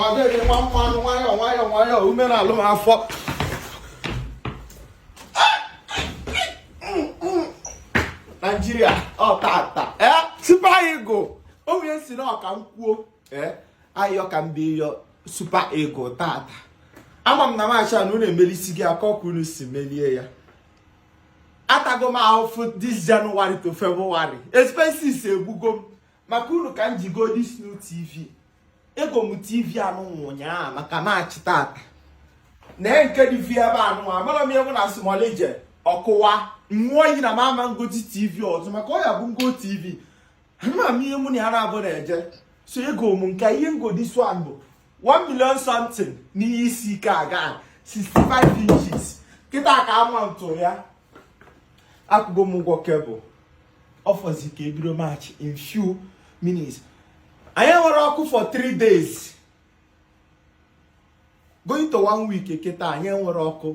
ọ dịghị nwa mmanụ nwayọọ nwayọọ nwayọọ ume na-alụ m afọ naijiria ọ tata ee super eagle onye sị na ọ ka m kwuo ee ayọ ka m bịa yọ super eagle tata ama m na maachị a na unu emelisi gị akọ ka unu si melie ya atago m ahụfụ this January to February expenses egbugo m maka unu ka m ji go this new TV ego m TV anụ ụnyaahụ maka maachị tata na nke dị vi ebe anụ amara m ewu na smolije ọ kụwa m ṅụọ iyi na m ama ngozi TV ọzọ maka ọ ya bụ m go TV ama m ihe mụ na ya na-abụ na-eje so ego m nke ihe m go this one bụ 1 million something n'ihe isi ike aga 65 inches kịta ka a mount ya akwụgo m ụgwọ cable ọ fọzi ka e bido match in few minutes anyị enwerọ ọkụ for 3 days going to one week kịta anyị enwerọ ọkụ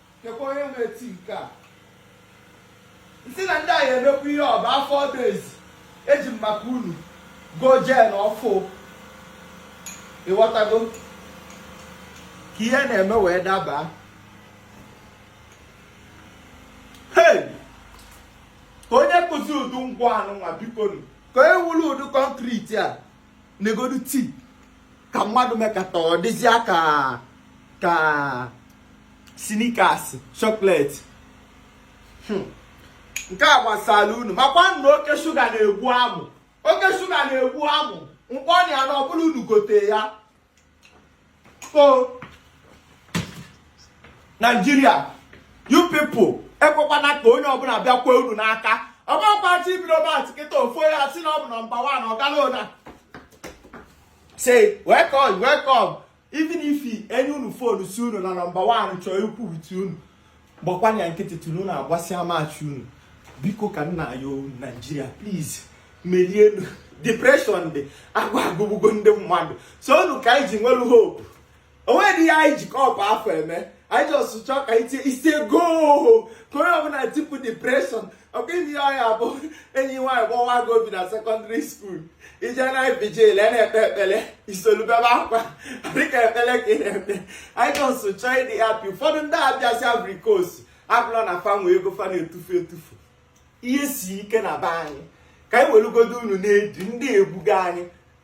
kekwa onye na-eti nke a asị na ndị anyị emekwa ihe over 4 days eji m maka unu go gen ọfụụ ịghọtago ka ihe na-eme wee daba hey kee onye kụzi ụdị ngwa anụnwa bikonu kee onye wuru ụdị concrete a negodu tii ka mmadụ mekata ọ dịzịa ka snickers chocolate hmm. nke a gbasara unu makwa na oke shuga na-egbu amụ oke shuga na-egbu amụ mkpọnya ya na ọbụla unu gote ya o naijiria you people ekwekwana ka onye ọbụla bịakwa unu n'aka ọgbakwachi ibido but kịta ofu onye asị na ọ bụ number one ọ gala ọ na-say welcome welcome even if e nye unu phone sị unu na number one chọọ ikwu with unu gbakwanye ya nkịtị till unu agbasịa maachị unu biko ka m na-ayọ unu naijiria please merienu depression dị agwa egbugo ndị mmadụ sọ unu ka anyị ji nwelu hope o nwerọ ihe anyị ji kọpụ afọ eme anyị just chọọ ka anyị tie it's a goal ka onye ọbụla tipu depression ọkwa ụdị ọ ya bụ enyi nwaanyị gbawa gị obi na secondary school i jee night vigil a na-ekpe ekpele i solu bebe akwa dịka ekpele ka ị na-ekpe anyị just chọọ ịdị happy ụfọdụ ndị a bịasị Ivory Coast abụrọ na fa nwee ego fa na-etufu etufu ihe si ike na be anyị ka anyị welugodu unu na-edi ndị a egbugo anyị